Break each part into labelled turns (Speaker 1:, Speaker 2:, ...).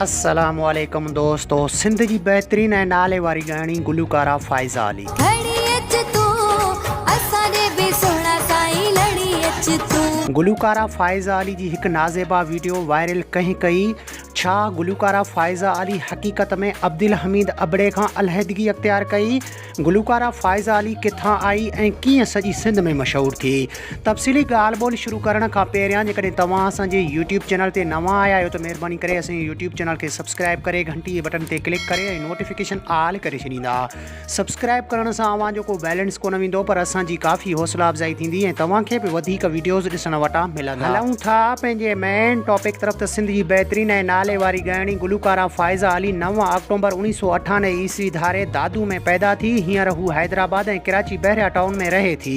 Speaker 1: السلام عليڪم دوستو سنڌ جي بهترين ۽ نالي واري ڳائڻي گلوڪارا فائزه علي. گهڙي اچ تون اسان ڏي به سهڻا سائين لڙي اچ تون. گلوڪارا فائزه علي جي هڪ نازيبا ويڊيو وائرل ڪنهن ڪئي؟ ڇا گلوڪارا فائزه علي حقيقت ۾ عبدالحميد ابڙي کان علحدگي اختيار ڪئي؟ گلوڪاره فائزه علي ڪٿان آئي ۽ ڪيئن سڄي سنڌ ۾ مشهور ٿي؟ تفصيلي ڳالهه ٻولهه شروع ڪرڻ کان پهريان جيڪڏهن توهان اسان جي يوٽيوب چينل تي نوان آيا آهيو ته مهرباني ڪري اسان جي يوٽيوب چينل کي سبسڪرائب ڪري گهنٽي جي بٽن تي ڪلڪ ڪري ۽ نوٽيفڪيشن آل ڪري ڇڏيندا سبسڪرائب ڪرڻ سان اوهان جو ڪو بيلنس ڪونه ويندو پر اسان جي ڪافي حوصلا افزائي ٿيندي ۽ توهان کي به وڌيڪ وڊيوز ڏسڻ وٽان هلون ٿا پنهنجي مين ٽاپڪ طرف ته سنڌ جي بهترين ۽ نالي واري ڳائڻي گلوڪاره فائزه علي نو آڪٽومبر اڻيهه سؤ اٺانوي عيسوي ڌاري دادو ۾ پيدا ٿي هينئر هو حيدرآباد ۽ ڪراچي بحريا ٽائون ۾ رهي ٿي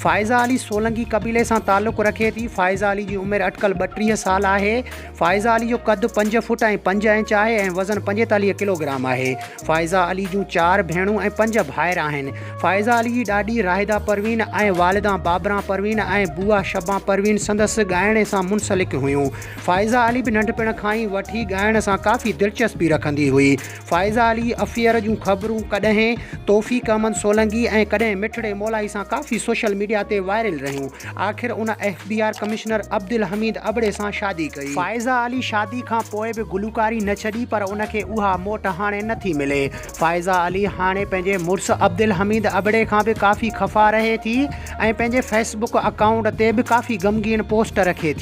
Speaker 1: فائزه علي سولنگي قبيلي سان تعلق رکي ٿي فائزه علي جي عمر اٽڪل ٻٽيهه سال آهي فائزه علي جو قد پنج فوٽ ۽ پنج انچ آهي ۽ وزن پنجيتاليهه ڪلوگرام آهي فائزه علي جون چار ڀيڻون ۽ پنج ڀائر آهن. فائزه علي جي ڏاڏي راحده پروين ۽ والدان بابران پروين ۽ بواه شبان پروين سندس ڳائڻي سان منسلڪ هيون. فائزه علي به ننڍپڻ کان ئي وٺي ڳائڻ سان ڪافي دلچسپي رکندي هئي. فائزه علي افيئر جون خبرون ڪڏهن توفيق احمد سولنگي ۽ ڪڏهن مٺڙي مولائي سان ڪافي سوشل ميڊيا تي وائرل رهيون. آخر ان F B R commissioner Abdulhamid ابڙي سان شادي ڪئي. فائزه علي شادي کان پوء به گلوڪاري نه ڇڏي پر ان کي اها موٽ هاڻي نه ٿي ملي. فائزه علي هاڻي پنهنجي مڙس عبدالحميد ابڙي کان به ڪافي خفا رهي ٿي ۽ پنهنجي فيس بڪ اڪائونٽ تي به ڪافي غمگين پوسٽ رکي ٿي.